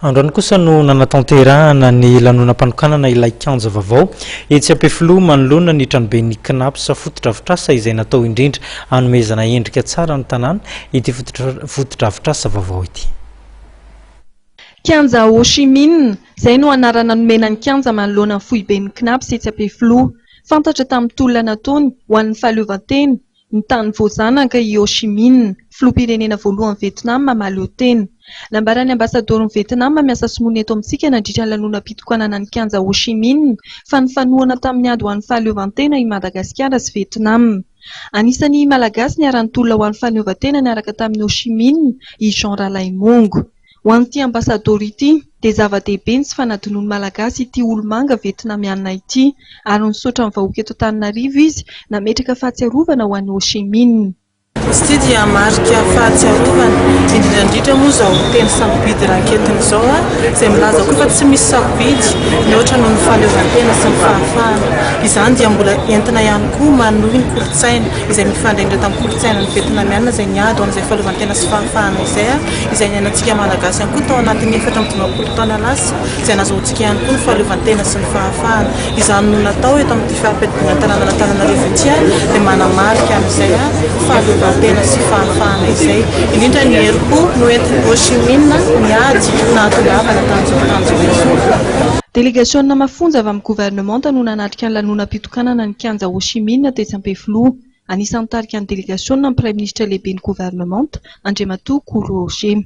Androany kosa no nanatanterahana ny lanonam-panokanana ilay kianja vaovao etsy Ampefiloha manoloana ny tranoben'ny Cnaps fotodrafitrasa izay natao indrindra hanomezana endrika tsara ny tanàna ity fotodrafitrasa vaovao ity. Kianja Ho Chi Minh, izay no anarana nomena ny kianja manoloana ny foiben'ny Cnaps etsy Ampefiloha. Fantatra tamin'ny tolona nataony ho an'ny fahaleovantena, Ny tany voazanaka i Ho Chi Minh, filoham-pirenena voalohan'i Vietnam mahaleo tena. Nambaran'ny Ambasadaoron'i Vietnam miasa sinoa eto amintsika nandritra ny lanonam-pitokanana ny kianja Ho Chi Minh fa nifanohana tamin'ny ady ho an'ny fahaleovantena i Madagasikara sy Vietnam. Anisan'ny Malagasy niara-nitolona ho an'ny fahaleovantena niaraka tamin'i Ho Chi Minh i Jean Ralaimongo. Ho an'ity Ambasadaoro ity dia zava-dehibe ny tsy fanadinoan'ny Malagasy ity olo-manga Vietnamiana ity ary nisaotra ny vahoaka eto Antananarivo izy nametraka fahatsiarovana ho an'i Ho Chi Minh. Izy ity dia marika fahatsiarovana, indrindra indrindra moa izao teny sarobidy ranketiny izao izay milaza koa fa tsy misy sarobidy mihoatra noho ny fahaleovantena sy ny fahafahana. Izany dia mbola entina ihany koa manohy ny kolontsaina izay mifandraindra tamin'ny kolontsainan'ny Vietnamiana izay niady ho an'izay fahaleovantena sy fahafahana izay. izay niainantsika Malagasy ihany koa tao anatin'ny efatra amby dimampolo taona lasa, izay nahazoantsika ihany koa ny fahaleovantena sy ny fahafahana. Izany no natao eto amin'ity fari-piadidiana tanànan'Antananarivo ity ary dia manamarika an'izay fahaleovantena sy fahafahana izay. Indrindra ny herim-po noentin'i Ho Chi Minh niady no nahatongavana tamin'izao tanjona izao. Delegasiona mafonja avy amin'ny governemanta no nanatrika ny lanonam-pitokanana ny Kianja Ho Chi Minh tetsy Ampefiloha. Anisan'ny nitarika ny delegasiona ny Praiminisitra Lehiben'ny Governemanta, Andriamatoa Koro Oshemi.